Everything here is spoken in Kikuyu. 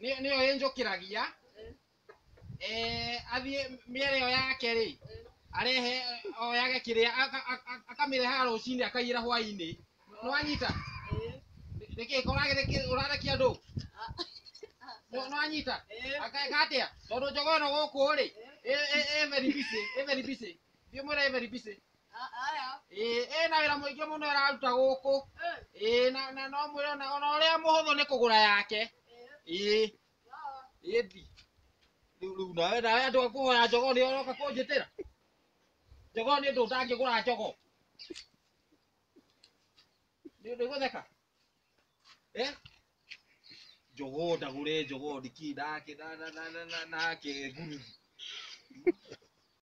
nĩ- nĩyo ĩnjũkĩragia eh, athiĩ mĩere ĩyo yake rĩ arehe eh, oyage kĩrĩa aka- aka- akamĩrehaga rũcinĩ akaiyĩra hwainĩ nĩwanyita nĩkĩ ũragĩthĩkĩ- ũrathekia andũ Nĩ- nĩwanyita akeka atĩa tondũ njogoo ĩno gũkũ rĩ ĩ- ĩ- ĩ very busy, ĩ very busy. thiĩ mwĩre ĩ very busy. Ĩĩ, ĩna wĩra mũingĩ mũno ĩraruta gũkũ Ĩĩ, na na no mwĩre ona ona ũrĩa mũhũthũ nĩ kũgũra yake Ĩĩ, ĩthi rĩu rĩu nawe nawe andũ a kũhoya njogoo nĩo ũroka kũnjĩtĩra njogoo nĩ ũndũ ndangĩgũra njogoo nĩ ũndũ gũtheka Eh? njogoo ndagũre njogoo ndiki ndake na na na na na nake ngurubu